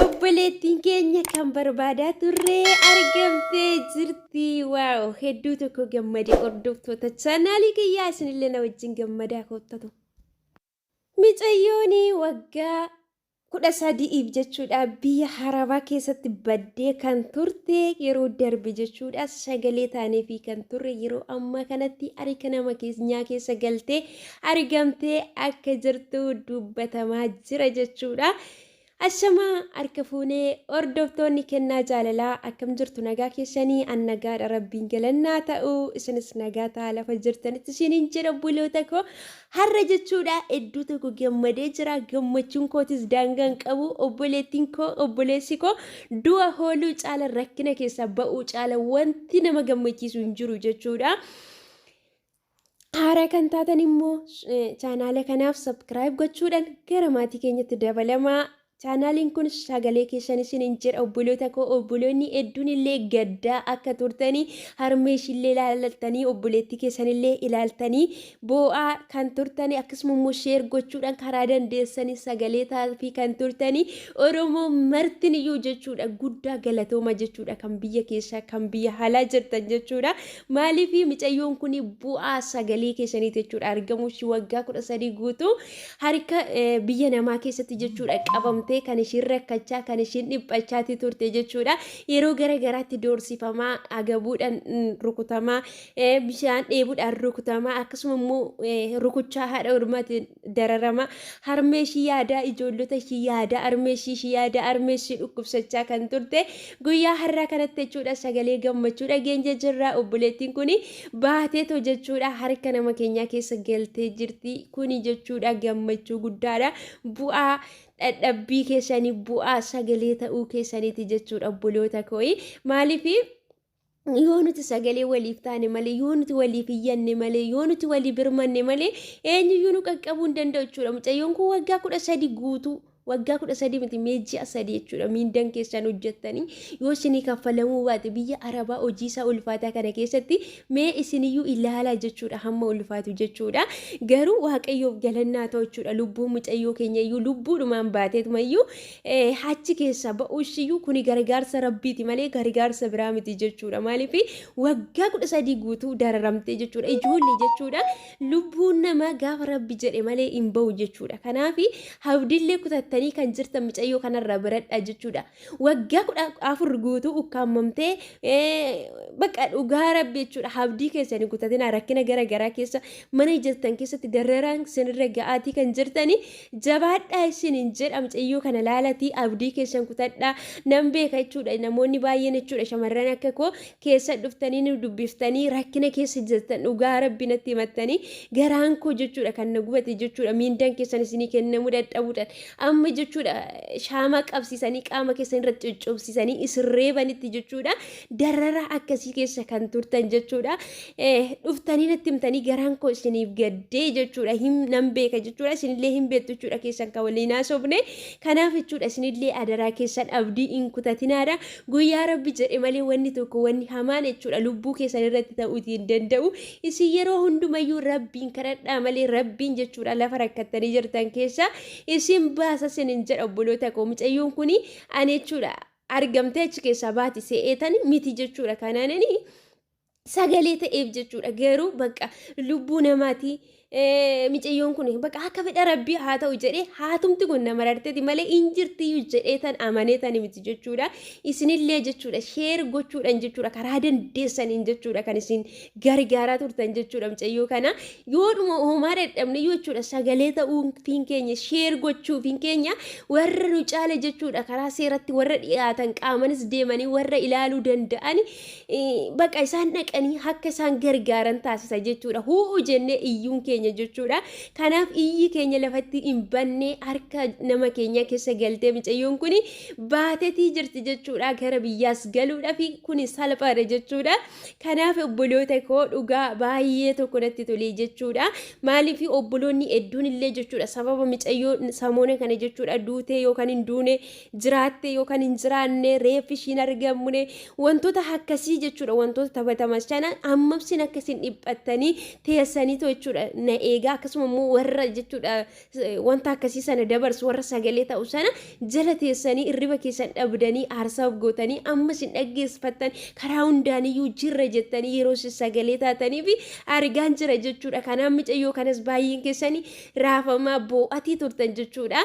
Obboleettiin keenya kan barbaadaa turre argamtee jirti. Waaw hedduu tokko gammade hordoftoota chaanaalii kiyyaa isinillee na wajjin gammadaa koottatu. Micayyoon waggaa kudha sadi'iif jechuudha biyya harabaa keessatti baddee kan turte yeroo darbe jechuudha sagalee taaneefii kan turre yeroo ammaa kanatti harka nama keenyaa keessa galtee argamtee akka jirtu dubbatamaa jira jechuudha. Ashamaa harka fuunee hordoftoonni kennaa jaalalaa akkam jirtu nagaa keessanii an nagaadha rabbiin galannaa ta'u isinis nagaa ta'a lafa jirtanitti isiniin jedha buloota koo har'a jechuudha hedduu tokko gammadee jira gammachuun kootis daangaan qabu obboleettiin koo obboleessi koo du'a hooluu caala rakkina keessaa ba'uu caala wanti nama gammachiisu hin jiru jechuudha. Haaraa kan taatan immoo chaanaala kanaaf sabskiraayib gochuudhaan gara maatii keenyatti dabalamaa. Chaanaaliin kun sagalee keessan isin hin jedha obboloota koo obboloonni hedduun illee gaddaa akka turtanii harmee ishillee ilaaltanii obboleettii keessan illee ilaaltanii boo'aa kan turtanii akkasuma immoo sheer gochuudhaan karaa dandeessanii sagalee taafii kan turtanii Oromoo martin iyyuu jechuudha guddaa galatooma jechuudha kan biyya keessaa kan biyya haalaa jirtan jechuudha Maaliifi micayyoon kun bu'aa sagalee keessaniiti jechuudha. Argamuu ishii waggaa kudha sadii guutuu harka eh, biyya namaa keessatti jechuudha qabamtee kan ishiin rakkachaa kan ishiin dhiphachaatii turte jechuudha. Yeroo gara garaatti doorsifamaa agabuudhaan mm, rukutamaa eh, bishaan dheebuudhaan rukutamaa akkasuma immoo eh, rukuchaa haadha ormaatiin dararama harmee ishii yaadaa ijoollota ishii yaadaa harmee ishii ishii yaadaa harmee ishii dhukkubsachaa kan turte guyyaa har'aa kanatti jechuudha sagalee gammachuu dhageenya jirra obboleettiin kun baateetoo jechuudha harka nama keenyaa keessa galtee jirti kuni jechuudha gammachuu guddaadha bu'aa dhadhabbii keessanii bu'aa sagalee ta'uu keessaniiti jechuudha obboloota kooyi maaliif yoo nuti sagalee waliif taane malee yoo nuti waliif iyyanne malee yoo nuti walii birmanne malee eenyuyyuu nu qaqqabuu hin danda'u jechuudha mucayyoon kun waggaa kudha sadi guutuu waggaa kudha sadii miti mee ji'a sadii jechuudha miindan keessan hojjettanii yoo isinii kaffalamuu baate biyya arabaa hojii isaa ulfaataa kana keessatti mee isiniyyuu ilaalaa jechuudha hamma ulfaatu jechuudha garuu waaqayyoof galannaa ta'u jechuudha lubbuun mucayyoo keenya iyyuu lubbuudhumaan baateetuma iyyuu Ee, achi keessaa ba'uushiyyuu kuni gargaarsa Rabbiiti malee gargaarsa biraa miti jechuudha. Maaliif waggaa kudha sadii guutuu dararamtee jechuudha. Ijoollee jechuudha. Lubbuun nama gaafa Rabbi jedhe malee hin ba'u jechuudha. Kanaaf hawdillee kutattanii kan jirtan micayyoo kanarraa baradhaa jechuudha. Waggaa kudha afur guutuu ukkaamamtee ee, bakka dhugaa Rabbi jechuudha. Hawdii keessanii kutatinaa rakkina gara garaa keessa mana jirtan keessatti dararaan sinirra ga'aatii kan jirtanii Jabaadhaa isiniin jedha mucayyoo kana laalatii abdii keessan kutadhaa nan beeka jechuudha namoonni baay'een jechuudha shamarran akka koo keessa dhuftanii nu dubbiftanii rakkina keessa jirtan dhugaa rabbi natti himattanii garaan koo jechuudha kan na gubate jechuudha miindaan keessan isinii kennamuu dadhabuudhaan amma jechuudha shaamaa qabsiisanii qaama keessan irratti cuccubsiisanii isin reebanitti jechuudha dararaa akkasii keessa kan turtan jechuudha. Dhuftanii natti himtanii garaan koo isiniif gaddee jechuudha. Nan beeka jechuudha. Isinillee hin beektu jechuudha keessan kan waliin haasofne. Kanaaf jechuudha isinillee adaraa keessan abdii hin kutatinaadha. Guyyaa rabbi jedhe malee wanni tokko wanni hamaan jechuudha lubbuu keessan irratti ta'uutii hin danda'u. Isin yeroo hundumayyuu rabbiin kadhadhaa malee rabbiin jechuudha lafa rakkattanii jirtan keessa isin baasa isin hin jedha obboloota koo mucayyoon kuni ani jechuudha. argamtee achi keessaa baati se'eetani miti jechuudha kanaanani sagalee ta'eef jechuudha garuu bakka lubbuu namaati micayyoon kun bakka akka fedha rabbii haa ta'u jedhee haatumti kun nama rarteeti malee hin jirtiyyuu jedhee tan amanee tan miti jechuudha isinillee jechuudha sheer gochuudhaan jechuudha karaa dandeessaniin jechuudha kan isin gargaaraa turtan jechuudha mucayyoo kana yoodhuma uumaa dadhabneyyuu jechuudha sagalee ta'uufiin keenya sheer gochuufiin keenya warra nu caale jechuudha karaa seeratti warra dhiyaatan qaamanis deemanii warra ilaaluu danda'an baqa isaan dhaqanii akka isaan gargaaran taasisa jechuudha hu'u jennee iyyuun keenya jechuudha kanaaf iyyi keenya lafatti hin bannee harka nama keenya keessa galtee mucayyoon kun baatetii jirti jechuudha gara biyyaas galuudhaaf kun salphaadha jechuudha. Kanaaf obboloota koo dhugaa baay'ee tokko natti tolee jechuudha. Maaliif obboloonni hedduun illee jechuudha sababa micayyoo samoona kana jechuudha duutee yookaan hin duune jiraattee yookaan hin jiraanne reeffi ishiin argamne wantoota akkasii jechuudha wantoota taphatamas kana hammamsin akka isin dhiphattanii teessaniitu jechuudha na eegaa akkasuma immoo warra jechuudha wanta akkasii sana dabarsu warra sagalee ta'u sana jala teessanii irriba keessan dhabdanii aarsaa of gootanii ammas hin dhaggeeffattan karaa hundaaniyyuu jirra jettanii yeroo isin sagalee taatanii fi argaan jira jechuudha kanaan micayyoo kanas baay'een keessanii raafamaa boo'atii turtan jechuudha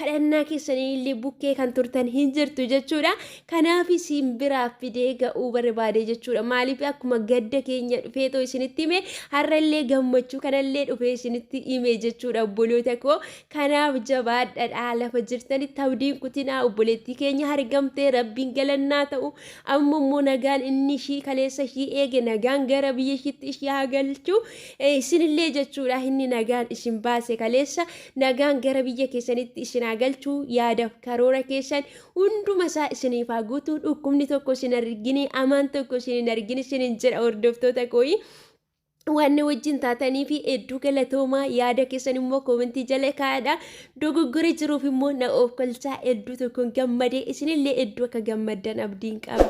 kadhannaa keessanii illee bukkee kan turtan hin jirtu jechuudha Kanaafi siin biraa fidee ga'uu barbaade jechuudha. Maaliif akkuma gadda keenya dhufeetoo isinitti hime har'a illee gammachuu kanallee dhufee isinitti hime jechuudha obboloota koo. Kanaaf jabaadhadha lafa jirtanitti abdiin kutinaa obboleettii keenya argamtee rabbiin galannaa ta'u. Amma immoo nagaan inni ishii kaleessa ishii eege nagaan gara biyya ishiitti ishii haa galchu. Eh, Isinillee jechuudha inni nagaan isin baase kaleessa nagaan gara biyya keessanitti isin haa galchu yaadaf karoora keessan hunduma isaa isiniif haa guutuu dhukkubni tokko isin argini amaan tokko isin hin argini isin hin jedha hordoftoota kooyi waan wajjin taatanii fi hedduu galatoomaa yaada keessan immoo koomentii jala kaa'adha dogoggora jiruuf immoo na oofkalchaa hedduu tokkoon gammadee isinillee hedduu akka gammaddan abdiin qaba.